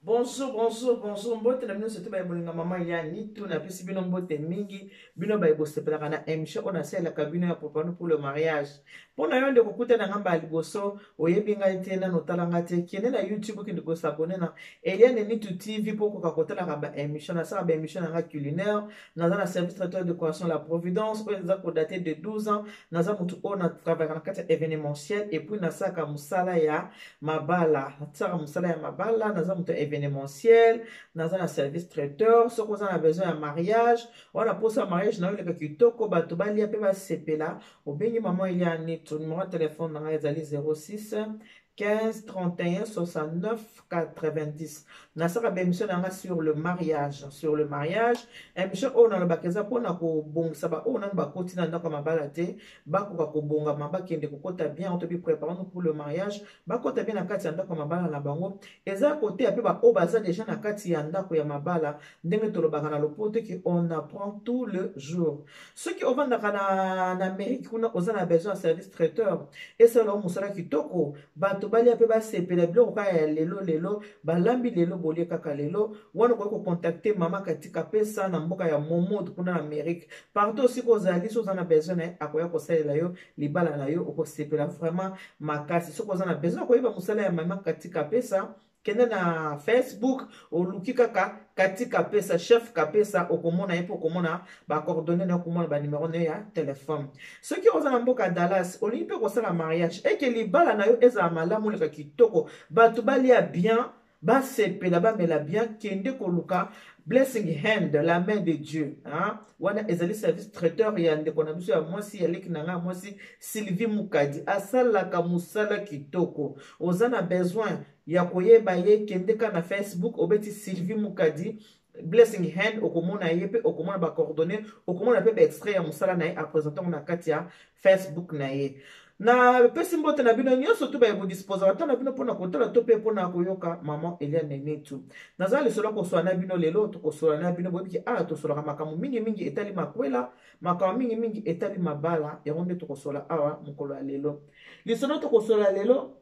bonjour bonjour bonjour mbote na bino soki baye bolinga mama ya nitu napesi bino mbote mingi bino baye bosepelaka na émission oyo nasalelaka bino ya propano pour le mariage mpo na yo nde kokuta na ngai mbala liboso oyebi ngai te nano otala ngai te kende na youtube okende kosabone na eliane nitu tv mpo okoka kotalaka baémission nasalaka baémission na ngai culinaire naza na service traiteur de coration la providence oyo eza kodate de 12 ans naza motu oyo na travaillaka na kati ya événementiel epuis nasalaka mosala ya mabala nasalaka mosala ya mabala naza motu ya événementiel naza na service traiteur soki oza na besoin ya mariage wana mposa ya mariage nayo eleka kitoko bato balia mpe basepela obengi mama elia nito numero ya telefone na ngai ezali 06 15 31 69 90 nasalaka baemission na yanga sur le mariage sur le mariage emission oyo nalobaka eza mpona kobongisa baoyo nano bakoti na ndako ya mabala te bakoka kobongama bakende kokota bien to bipreparano pour le mariage bakota bien na kati ya ndako ya mabala na bango eza koteya mpe baoyo baza deja na kati ya ndako ya mabala ndenge tolobaka na lopoto ke on apprend tout le jour soki ovandaka na, na amerike kuna oza na besoin ya service traiteur esalao mosala kitoko bato balia mpe basepela biloko kaka ya lelo lelo balambi lelo bolie kaka lelo wana okoki kokontakte mama katika pesa na mboka ya momod kuna na amerike partout osika ozali so oza na besoin na ye akoya kosalela yo libala na yo okosepela vraiment makasi soki oza na besoin ya koyeba mosala ya mama katika pesa kende na facebook oluki kaka kati kapesa chef kapesa okomona ye mpe okomona bacoordonne na okomona banimero na yo ya telefone soki oza na mboka dallas olingi mpe kosala mariage eke libala na yo ezala malamu oleka kitoko bato balia bien basepela bamela bien kende koluka blessing hand la main de dieu hein? wana ezali service traiteur ya ndeko na biso ya mwasi ya leki na ngai ya mwasi sylvie mukadi asalaka mosala kitoko oza na besoin ya koyeba ye kendeka na facebook obeti sylvie mukadi blessing hand okomona ye mpe okomona bacoordonne okomona mpe baextrait ya mosala na ye apresente yango na kati ya Facebook na ye. Na pesi mbote na bino nyonso tu baye kodispoza bata na bino mpo na kotala to mpe mpo na koyoka mama Eliane Netu. Naza lisolo kosola na bino lelo tokosola na bino boyebi ke awa tosolaka makambo mingi mingi etali makwela makambo mingi mingi etali mabala yango nde tokosola awa mokolo ya lelo. Lisolo tokosola lelo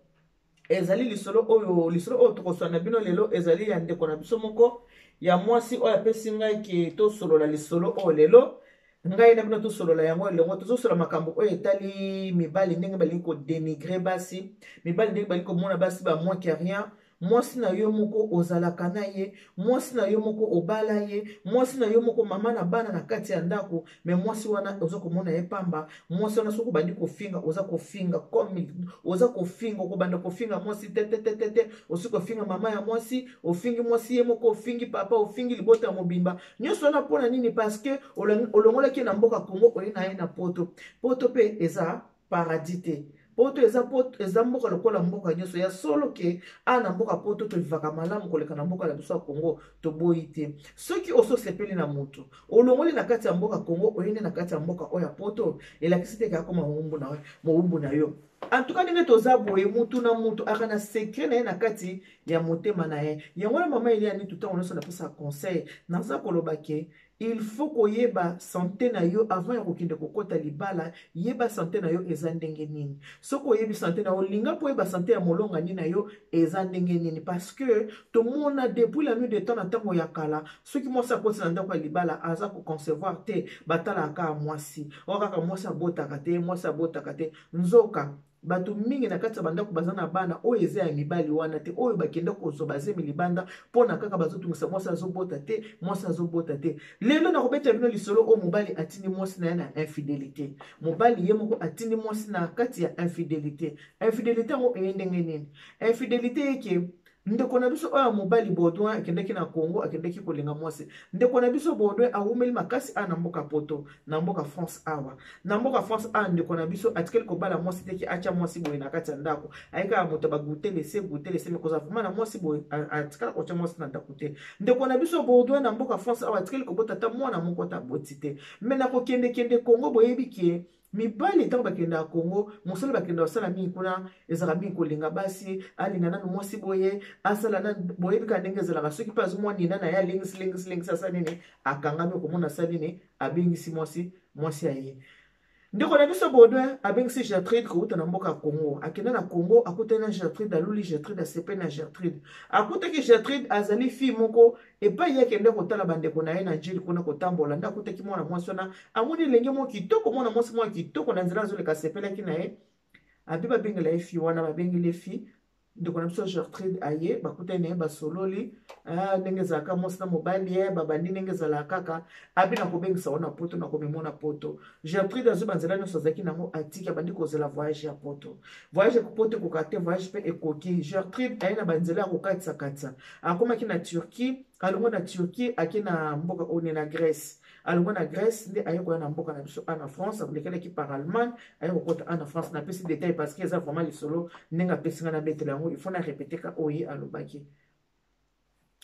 ezali lisolo oyo lisolo oyo tokoswana na bino lelo ezali ya ndeko na biso moko ya mwasi oyo apesi ngai ke tosolola lisolo oyo lelo ngai na bino tosolola yango elongo tozosolola makambo oyo etali mibali ndenge balingi kodenigre basi mibali ndenge balingi komona basi bamoin ke rien mwasi na yo moko ozalaka na ye mwasi na yo moko obala ye mwasi na yo moko mama na bana na kati ya ndako me mwasi wana oza komona ye pamba mwasi wana soki obandi kofinga oza kofinga comme oza kofinga okobanda kofinga mwasi tetetetete osi kofinga mama ya mwasi ofingi mwasi ye moko ofingi papa ofingi libota mobimba nyonso wana mpona nini parceke olongolaki ye na mboka congo oye na ye na poto poto mpe eza paradis te poto eza, poto, eza mboka lokola mboka nyonso ya solo ke a na mboka poto tolivaka malamu koleka na mboka na biso ya congo toboyi te soki osi osepeli na moto olongoli na kati ya mboka congo oyende na kati ya mboka oyo ya poto elakisi te ke akoma mowumbu na, mowumbu na yo antuka ndenge toza boye mutu na mutu aka na sekre na ye na kati ya motema na ye yango wana mama eliani tutango nyonso napesa conseil naza koloba ke Il faut koyeba sante na yo avant ya kokende kokota libala, yeba sante na yo eza ndenge nini. Soki oyebi sante na yo, linga mpe oyeba sante ya molongani na yo eza ndenge nini. Parce que tomona depuis la nuit de temps na ntango ya kala, soki mwasi akoti na ndako ya libala aza ko concevoir te, batalaka kaka mwasi. Oyo kaka mwasi abotaka te, mwasi abotaka te. Nzoka, bato mingi na kati ya bandako baza na bana oyo eza ya mibali wana te oyo bakenda kozwa bazemi libanda mpo na kaka bazotungisa mwasi azobota te mwasi azobota te lelo nakobeta bino lisolo oyo mobali atindi mwasi na ye na infidelité mobali ye moko atindi mwasi na kati ya infidelité infidelité yango eye ndenge nini infidelité yeke Ndeko na biso oyo ya mobali Baudouin akendeki na Congo, akendeki kolinga mwasi. Ndeko na biso Baudouin awumeli makasi awa na mboka Poto, na mboka France awa. Na mboka France awa ndeko na biso atikeli kobala mwasi te ki atia mwasi boye na kati ya ndako. Ayekaka moto ba goûter laisser goûter laisser mais kozala vraiment na mwasi boye atikala kotia mwasi na ndako te. Ndeko na biso Baudouin na mboka France awa atikeli kobota ata mwana moko ata aboti te. Mais na kokende kende Congo boyebi ke mibali ntango bakendaka congo mosala bakenda kosala mingi kuna ezalaka mingi kolinga basi alinga nanu mwasi boye asala na boyebi kaka ndenge ezalaka soki mpe azwi mwa nina na ye alengisi lengisi lengisi asala nini akangami okomona asala nini abengisi mwasi mwasi ya ye ndeko na biso baudouin abengisi gertrude kouta na mboka ya congo akenda na congo akutani na gertrude aluli gertrude asepe na gertrude akutaki gertrude azali fille moko epai ye akende kotala bandeko na ye na jili kuna kotambola nde akutaki mwana mwasi wana amoni elenge moko kitoko mwana mwasi moko kitoko na nzela azoleka asepelaki na ye abi babengela ye fi wana babengeli ye fi ndeko na biso gertrude aye bakutani na ye basololi ah, ndenge ezalaka mwasi na mobali ye eh, babandi ndenge ezalaka kaka abi nakobengisa wana poto nakomemona poto gertrude azwi banzela nyonso azalaki nango atiki abandi kozela voyage ya poto voyage ya poto ekoka te voyage mpe ekoki gertrude aye na banzela ya kokatisakatisa akomaki na turquie alongo na turquie ake na mboka one na grèce alongo na grèce nde aye koya na mboka na biso ana france alekelaki par allemagne aye kokota ana france napesi detail parce que eza vraiment lisolo ndenge apesi ngai nabetela yango ifo na repeteka oye alobaki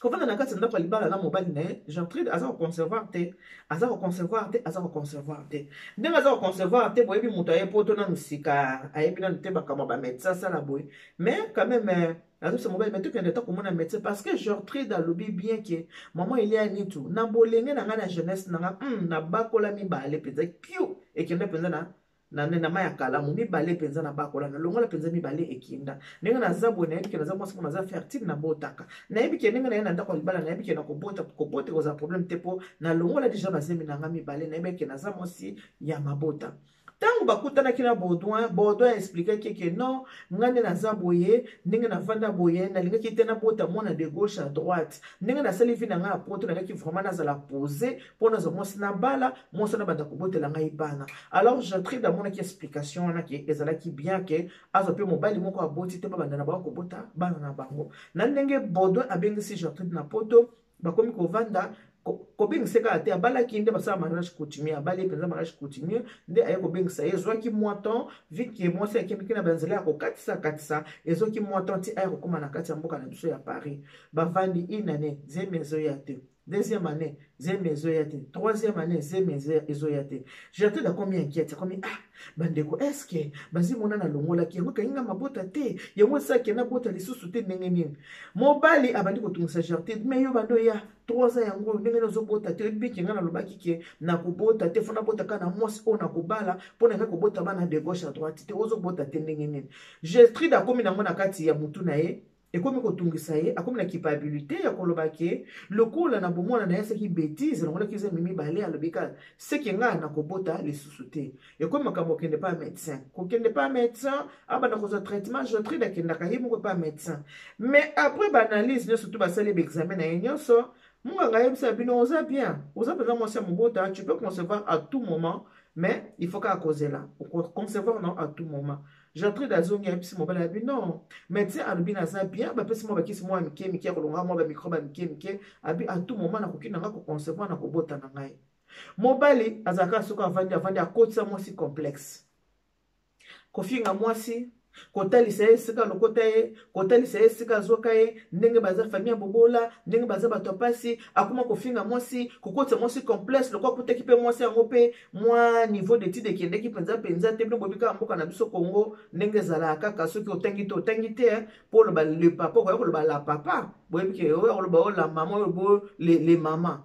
kovanda na kati ya ndako ya libala na mobali na ye gertrude aza koconcevoir te aza koconcevoir te aza koconcevoir te ndenge aza koconcevoir te boyebi moto aye poto nanu sika ayebi nanu te makambo ya bamédecin asala boye mais quand même euh, azobisa mobali me tokende ata komona médecin parce que gertrude alobi bien ke mama elia nitu na bolenge na ngai na jeunesse na ngai mm, nabakola mibale mpenza kiu ekenda mpenza na na nde na mai ya kalamu mibale mpenza na bakola na longola mpenza mibale ekinda ndenge naza boye nayebi ke naza mwasi mpo naza fertile nabotaka nayebi ke ndenge naye na ndako ya libala nayebi ke na kobota kobota ekozala problème te mpo na longola deja bazemi na nga mibale nayebi ke naza mwasi ya mabota ntango bakutanaki na baudouin baudouin explikaki eke non ngai nde naza boye ndenge navanda boye nalingaki te nabota mwana de gauche à droite ndenge nasali vi na ngai ya poto nalingaki vraiment nazala pose mpo nazwa mwasi nabala mwasi wana banda kobotela ngai bana alors jatride amonaki explication wana ke ezalaki bien ke azwa mpe mobali moko aboti te babanda na bango kobota bana na bango na ndenge baudouin abengisi jatride na poto bakomi kovanda kobengisa kaka te abalaki nde basala mariage coutumier abali mpenza mariage coutumier nde aye kobengisa ye ezwaki mwa temps vike mwasi akendeki na banzela ya kokatisa katisa ezwaki mwa temps ti aye kokóma na kati ya mboka na biso ya paris bavandi inane zemi ezoya te Deuxième année, zemi ezoya te. Troisième année, zemi ezoya te. J'étais là combien inquiète, comme ah, bandeko, est-ce que bazi mona na longola ki yango kainga mabota te, yango sa ke na bota lisusu te ndenge nini. Mobali abandi ko tungisa Gertrude, mais yo bando ya 3 ans yango ndenge nazo bota te, oyebi ke nga na lobaki ke na ko bota te, fona bota ka na mwasi oyo na kobala, pona nga ko bota bana de gauche à droite te, ozo bota te ndenge nini. Gertrude akomi nango na kati ya mutu na ye, ekomi kotungisa ye akomi na kipabilite ya koloba ke lokola na bomwana na ye asaki betise longolaki zemi mibale alobi kaka seke ngai nakobota lisusu te ekomi makambo okende pa médecin kokende pa médecin abanda kozwa traitement jotride akendaka ye moko pa médecin mais après baanalyse nyonso to basali baexamen na ye nyonso munganga ayebisa bino oza bien oza mpenza mwasi ya mobota tu peux concevoir à tout moment mais il faut kaka kozela okoconcevoir na à tout moment Gertrude azongi ayebisi mobali abi non medecin alobi naza bien bapesi mwa bakisi mwa mike mike ya kolonga mwa bamikrobe ya mike mike abi a tout moment nakoki na ngai koconcevoir na kobota na ngai mobali azalaka soki avandi avandi akotisa mwasi complexe kofinga mwasi kotalisa ye esika lokota ye kotalisa ye esika azwaka ye ndenge baza famille ya bobola ndenge baza bato ya mpasi akoma kofinga mwasi kokotisa mwasi complexe lokola akutaki mpe mwasi yango mpe mwa niveau d'étude ekendeki mpenza mpenza te bino boyebi kaka mboka na biso congo ndenge ezalaka kaka soki otangi te otangi te mpo oloba le papa okoya koloba la papa boyebi ke oya koloba oyo la mama oyo bo le, le mama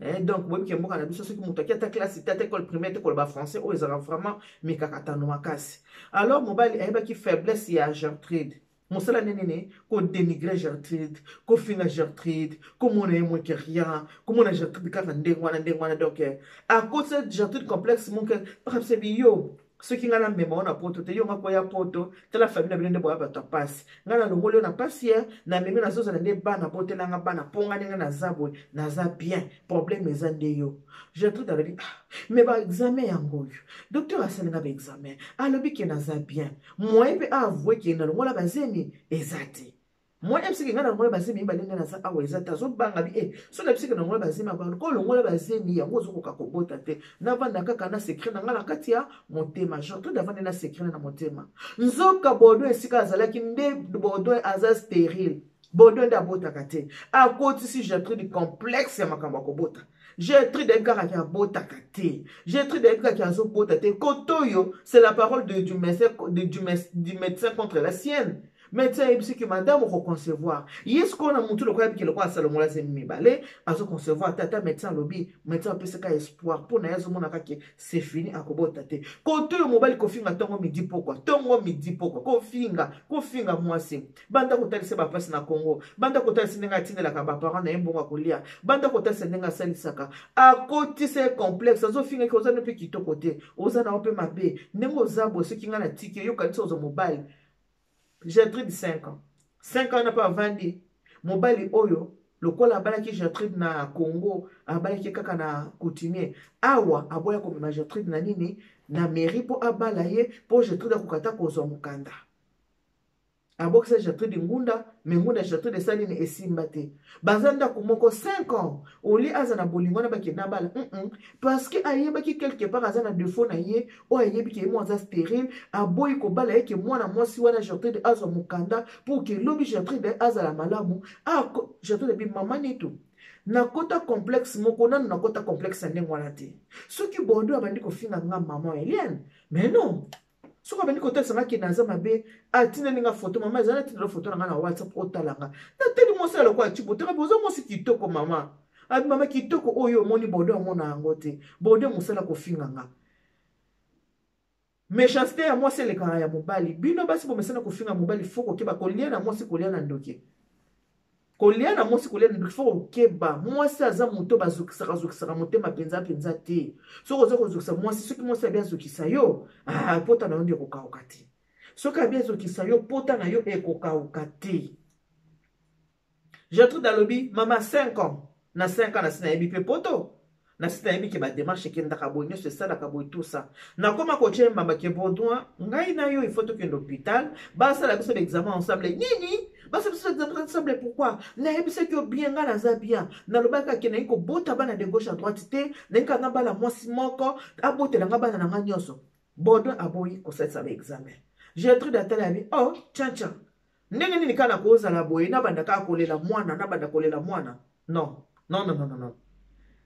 Eh, donc boyebi ke mboka na biso soki moto aki ata classe te ata ekole primaire te koloba français oyo ezalaka vraiment mikakatano makasi alors mobali ayebaki faiblesse ya gertrude mosala nde nini kodenigre gertrude kofinga gertrude komona ye moke rien komona gertrude kaka ndenge wana ndenge wana donc eh, akotisa gertrude complexe moke bakabisa biyo soki ngai namema yo na poto te yo nga koya poto tala famille na bino nde boya bato ya mpasi ngai nalongoli yo na mpasi ye namemi nazozala nde bana botelanga bana mpo ngai ndenge naza boye naza bien problème eza nde yo gertrude alobi ah, me baexamen yango oyo docteur asalinga baexamen alobi ke naza bien moyen mpe a avouer ke nalongola bazemi eza te moi ye biseke ngai nalongola bazemi mibale ngai naza awa eza te azobanga bi e eh, so na biseke nalongola bazemi abanga ko olongola bazemi yango ozokoka kobota te navanda kaka na sekret na ngai na kati ya motema jean claude avandi na sekret na motema nzoka bordeaux esika azalaki nde bordeaux aza sterile bodo nde abotaka te akotisi gertrude complexe ya makambo ya kobota gertrude ayebi kaka ke abotaka te gertrude ayebi kaka ke azobota te kote oyo c'est la parole de, du, médecin, de, du, du médecin contre la sienne médecin ayebisi ke madame okoconcevoir ye sikoyo na motu lokola ayebiki lokola asalongola zemi mibale azoconcevoir te ata médecin alobi médecin apesaka espoir mpo na ye azomonaka ke c'est fini akobota te kote oyo mobali kofinga ntongo midi pokwa ntongo midi pokwa kofinga kofinga mwasi banda kotalisa bapasi na congo banda kotalisa ndenge atindelaka baparent na ye mbongo ya kolia banda kotalisa ndenge asalisaka akotisa ye complexe azofingaki oza no mpe kitoko te oza na yo mpe mabe ndenge oza boye soki ngai natiki eyokanisa ozwa mobali gertrude 5 ans 5 ans na mpe avandi mobali oyo lokola abalaki gertrude na congo abalaki kaka na coutumier awa aboya komema gertrude na nini na mairie mpo abala ye mpo gertrude akoka ata kozwa mokanda abokisa Gertrude Ngunda me Ngunda Gertrude esali nini esimba te baza ndako moko 5 ans olie aza na bolingo wana bakenda bala mm -mm. parce que ayebaki quelque part aza na defaut na ye oyo ayebi ke ye moko aza stérile aboyi kobala ye ke mwana mwasi wana Gertrude azwa mokanda pour ke lobi Gertrude azala malamu ah, Gertrude bi mama nitu nakota complexe moko nanu nakota complexe ya ndenge wana te soki bordeaux abandi kofinga nga mama eliane mais non soki abandi kotalisa nga ke naza mabe atindeli nga foto mama ezali atindela foto na nga na whatsapp otala nga nateli mwasi ya lokola cibo teka boza mwasi kitoko mama abi mama kitoko oyo omoni bode omona yango te bode mosala kofinga nga méchanceté ya mwasi elekaka ya mobali bino basi bomesana kofinga mobali fo kokeba kolia na mwasi kolia na ndoki kolia na mwasi kolia na faut kokeba mwasi aza moto bazokisaka azokisaka motema mpenza mpenza te soki oza kozokisa mwasi soki mwasi abi azokisa yo ah, pota na yo nde ekokauka te soki abi azokisa yo pota na yo ekokauka te gertrude alobi mama 5 ans na 5 ans nasi nayebi mpe poto na site nayebi ke bademarche ekendaka boye nyonso esalaka boye tusa nakoma kotie mbamba ke baudouin ngai na yo ifo tokende hôpital basala biso baexamen ensemble nini basala biso baexamen ensemble pourkui nayebisaki yo bien ngai naza bien nalobaka ke nayi kobota bana de gauche à droite te nayi kaka nga bala mwasi moko abotela nga bana na ngai nyonso baudouin aboyi kosalisa baexamen gertrude atala yabi oh tian tian Ndenge nini kaka nakozala boye nabanda kaka kolela mwana nabanda kolela mwana non non non non non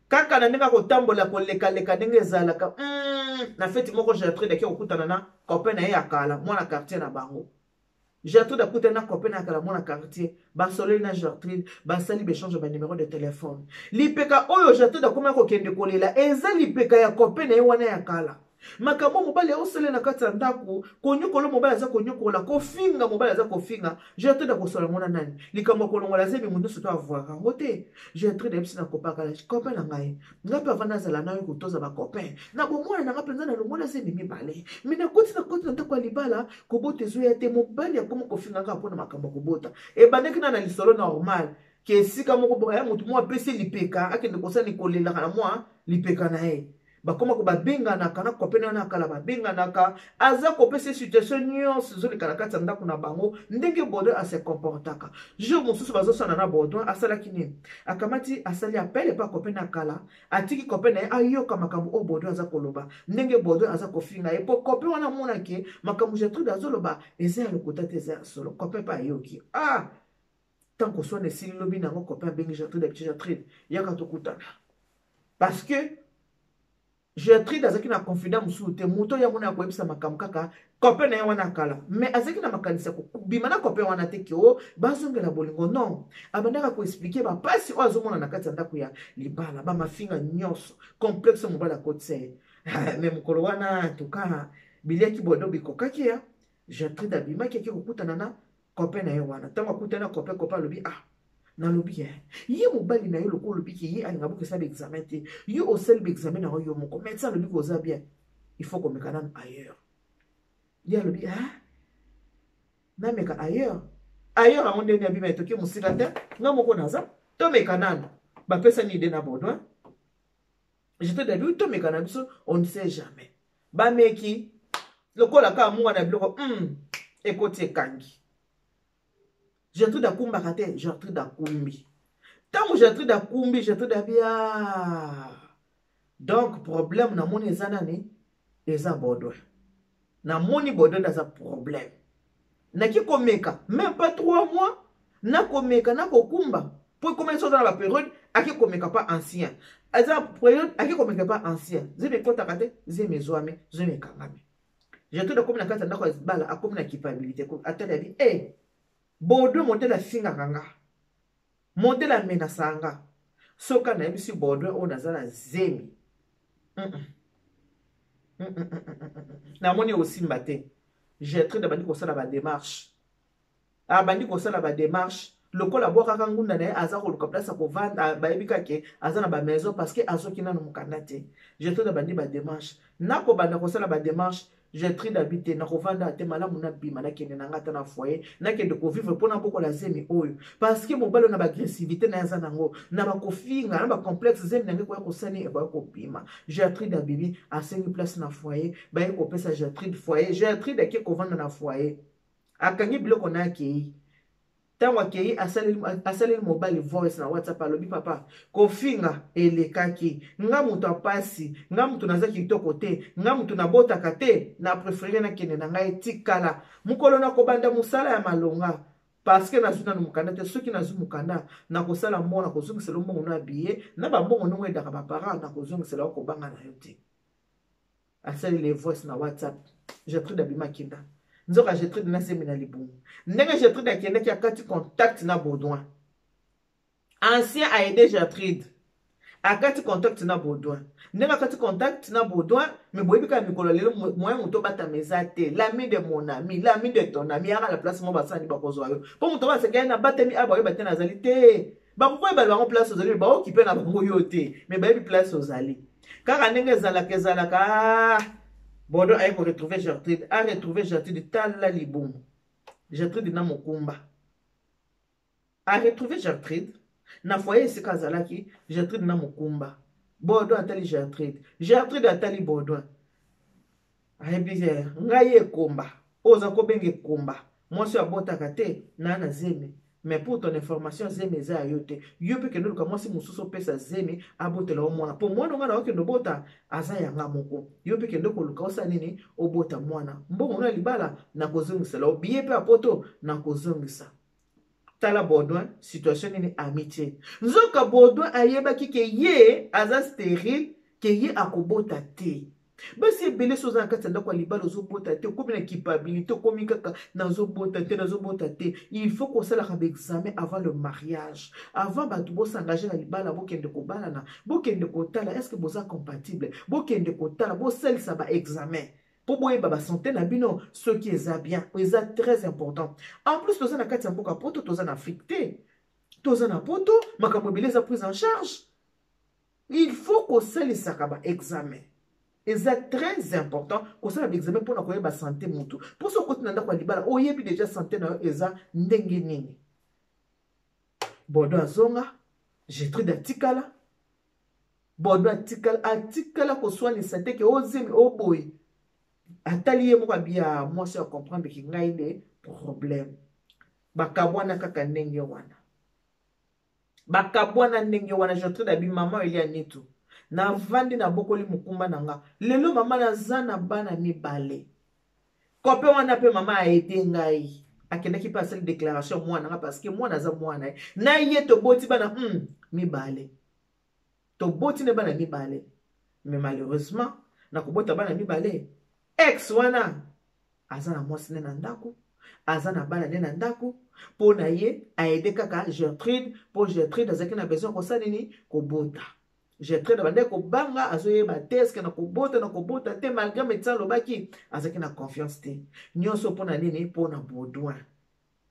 kaka na ndenge akotambola kolekaleka ndenge ezalaka mm, na feti moko gertrude ake kokutana na copain na ye ya kala mwana quartier na bango gertrude akutani na copain na ya kala mwana quartier basoleli na gertrude basali baechange ba numero de telefone lipeka oyo gertrude akomaki kokende kolela eza lipeka ya copain na ye wana ya kala makambo oyo mobali aosalela na kati ya ndako konyokola mobali aza konyokola kofinga mobali aza kofinga gertrude akosola yango na nani likambo ya kolongola zemi moto nyonso to avuaka yango te gertrude ayebisi na kopakala copain na ngai ngai mpe avanda azala nayo kotoza bacopain na bomwana na ngai mpenza nalongola zemi mibale mi nakoti na koti na ndako ya libala kobota ezoya te mobali akomi kofinga kaka mpo na makambo ya kobota ebandaki na na lisolo normal ke esika moko boka ya moto mwa apesi lipeka akende kosala nikolelaka na mwa lipeka na ye bakoma ko babenganaka na kopene wana ya kala babenganaka aza kopesa situation nyonso ezoleka na kati ya ndako na bango ndenge baudouin ase comportaka jour mosusu bazosana na baudouin asalaki nini akamati asali apele mpe akopene ya kala atiki kope na ye ayoka makambo oyo baudouin aza koloba ndenge baudouin aza kofinga ye mpo kope wana amonake makambo gertrude azoloba eza ya lokuta te eza ya solo kope mpe ayoki ah tant que soit esili lobi na yango copain abengi Gertrude d'habitude Gertrude yaka tokutana parce que Gertrude azalaki na confident mosusu te moto yango na ya koyebisa makambo kaka copain na ye wana kala mais azalaki na makanisi ya kobima na copain wana te ke o oh, bazongela bolingo non abandaka koexplike bapasi oyo azomona na kati ya ndako ya libala bamafinga nyonso complexe mobali akotisa ye ah, mais mokolo wana tuka biliaki bodo bikokaki ya Gertrude abimaki ake kokutana na copain na ye wana ntango akutani na copain copain alobi ah nalobi ye ye mobali na ye lokola olobi ke ye alinga boke esala baexamen te yo osali baexamen na yo yo moko meti alobi koza bien il faut komeka nanu ailleurs ye alobi a ah, nameka ailleurs ailleurs yango ndenge abima etoki mosika te nga moko naza tomeka nanu bapesani ide na baudouin je te dabi tomeka na biso on ne sait jamais bameki lokola kaka munga na biloko mm, ekoti ekangi gertrude akumbaka te gertrude akumbi ntango gertrude akumbi gertrude abia ah. donc problème namoni eza nani eza bodwe namoni bodonda aza problème naki komeka même pas 3 mois nakomeka nakokumba mpo ekomeli soza na baperiode ake komeka pa ancien aza periode ake komeka pa ancien zemi ekotaka te zemi ezwami zemi ekangami jetude akomi na kati ya ndako ya bala akomi na culpabilité atali abi e eh, bodo modele asingaka nga Monte la mena sanga. Soka na yebisi Baudouin oyo naza na zemi. Mm -mm. Mm -mm -mm -mm. mm. Namoni osimba te. Gertrude abandi kosala ba démarche. Abandi kosala ba démarche. lokola abwakaka ngunda na ye aza koluka place ya kovanda bayebi kake aza na bamaison parce que azoki nano mokanda te jetode abandi bademarche nakobanda kosala bademarche Gertrude abi te nakovanda te malamu nabima nakende na ngai ata na foyer nakende kovivre mpo nabokola zemi oyo parce que mobali na baagressivité na ye aza nango na bakofinga na bacomplexe zemi na ngai koya kosani ekoya kobima Gertrude abibi asengi place na foyer baye kopesa Gertrude foyer Gertrude ake kovanda na foyer akangi biloko na akei ntango akei asaleli mobali voice na whatsapp alobi papa kofinga elekaki nga moto apasi nga moto naza kitoko te nga moto nabotaka te na prefere nakende na ngai etikala mokolo na kobanda mosala ya malonga parceke nazwi nano mokanda te soki nazwi mokanda nakosala mbongo nakozongisela yo mbongo no ya biye na bambongo ndongo edaka baparent nakozongisela yo kobanga na yo te asali le voice na whatsapp gertrude abima kinda nzoka gertrude na zemi na libumu ndenge gertrude akendaki akati contact na baudouin ancien aide gertrude akati contact na baudouin ndenge akati contact na baudouin me boyebi kaka mikolo lelo moyen moto obatama eza te lami de mon ami lami de ton ami yaka na place mo basani bakozwa yo mpo moto baseka ye nabatami awa bayoba te nazali te bakoki koyebala bango place ozali me baokipe na bango yo te me bayebi place ozali kaka ndenge ezalaka ezalaka ah, bodo aye koretrouve gertrude aretrouve gertrude tala libumu gertrude na mokumba aretrouve gertrude na foye esika azalaki gertrude na mokumba bodo atali gertrude gertrude atali bodo ayebi te ngai ekomba oyo oza kobenga ekomba mwasi oyo abotaka te na na zemi mais pour ton information zemi eza ya yo te yo mpe kende oluka mwasi mosusu opesa zemi abotela yo mwana mpo mwana onga na okende obota aza yanga moko yo mpe kende koluka osala nini obota mwana mbongo no ya libala nakozongisela yo biye mpe ya poto nakozongisa tala baudouin situation nini amitie nzoka baudouin ayebaki ke ye aza sterile ke ye akobota te basi ebele soza na kati ya ndako ya libala ozobota te okomi na kipabilite okomi kaka nazobota te nazobota te il faut kosalaka baexamen avant le mariage avant bato bosengage na libala bokende kobalana bokende kotala estce boza compatible bokende kotala bosalisa baexamen mpo boyeba basante na bino soki eza bien oyo eza très important en plus toza na kati ya mboka poto toza na afrique te toza na poto makambo ebele eza prise en charge il faut kosalisaka baexamen eza très important kosala baexamen mpona koyeba sante motu mpo soki okoti na ndako ya libala oyebi deja sante na yo eza ndenge nini bodo azonga getride atikala bodo atikala atikala koswanisa te ke ozemi oboye atali ye moko abiya mwasi ya comprendre ki ngai nde problème bakabwana kaka ndenge wana bakabwana ndenge wana jontre na bimama elia nitu navandi nabokoli mokumba na nga lelo mama naza na bana mibale kope wana mpe mama aede ngai akendaki mpe asali déclaration mwana nga parce que mwana aza mwana ye na ye toboti bana hmm, mibale toboti na bana mibale mais malheureusement na kobota bana mibale ex wana aza na mwasi nde na ndako aza na bana nde na ndako mpo na ye aede kaka gertrude mpo gertrude azalaki na besoin kosala nini kobota Gertrude abandaki kobanga azoyeba te eske na kobota na kobota te malgré médecin alobaki azalaki na confiance te nyonso mpo na nini mpo na baudouin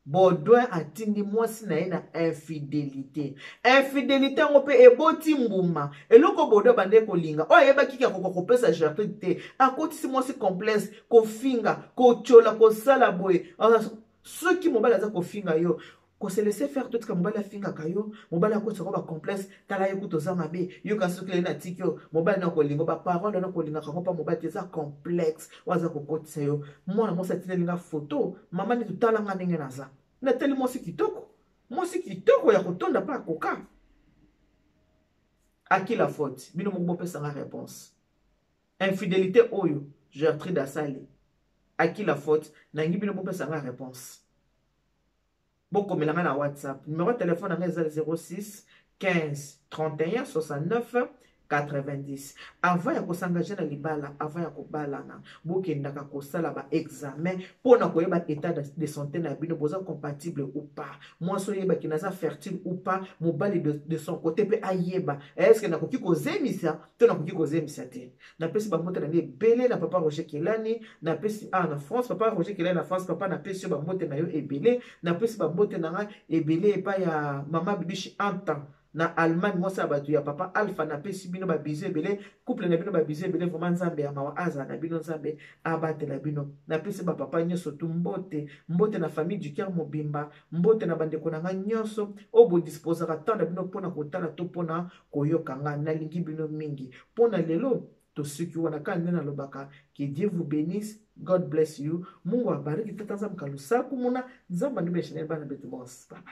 baudouin atindi mwasi na ye na infidélité infidélité yango mpe eboti mbuma eloko baudouin abandaki kolinga oyo ayebaki ke akoka kopesa gertrude te akotisi mwasi complexe kofinga kotyola kosala boye soki mobali aza kofinga yo ko se laisser faire totika mobali afingaka yo mobali akotisa ko ba complexe tala ye kutu oza mabe yo kasi soki leli natiki yo mobali na kolingo ba parole wana kolingaka yango mpa mobali te eza complexe oyo aza kokotisa yo mwana mwasi atineli nga foto mama neti tala nga ndenge naza natali mwasi kitoko mwasi kitoko ya kotonda mpe akoka aki la faute bino moko bopesa nga réponse infidelité oyo gertrude asali aki la faute nangi bino bopesa nga réponse bokomela ngai na whatsapp numero ya telefone na ngai eza 06 15 31 69 90 avant ya kosangage na libala avant ya kobalana bokendaka kosala baexamen mpo na koyeba état de santé na bino boza compatible ou pas mwasi oyebaki naza fertile ou pas mobali de, de son côté mpe ayeba eske nakoki kozemisa to nakoki kozembisa te napesi bambota na ngai ebele na papa roger kelani napesi awa na france papa roger kelani na france papa napesi yo bambote na yo ebele napesi bambote na ngai ebele epai ya mama bibishi anta na allemagne mwasi ya bato ya papa alpha napesi bino babizo ebele couple na bino babizo ebele vraimen nzambe ya mawa azala na bino nzambe abatela bino napesi bapapa nyonso tu mbote mbote na famille du ker mobimba mbote na bandeko na ngai nyonso oyo bodisposaka temps na bino mpona kotala to mpona koyoka nga nalingi bino mingi pona lelo tosuki wana kaka nde nalobaka que dieu vous benisse god bless you mungu abariki tata nzambe kalusa kumuna nzambe andubi ya chanel bana betu bons baba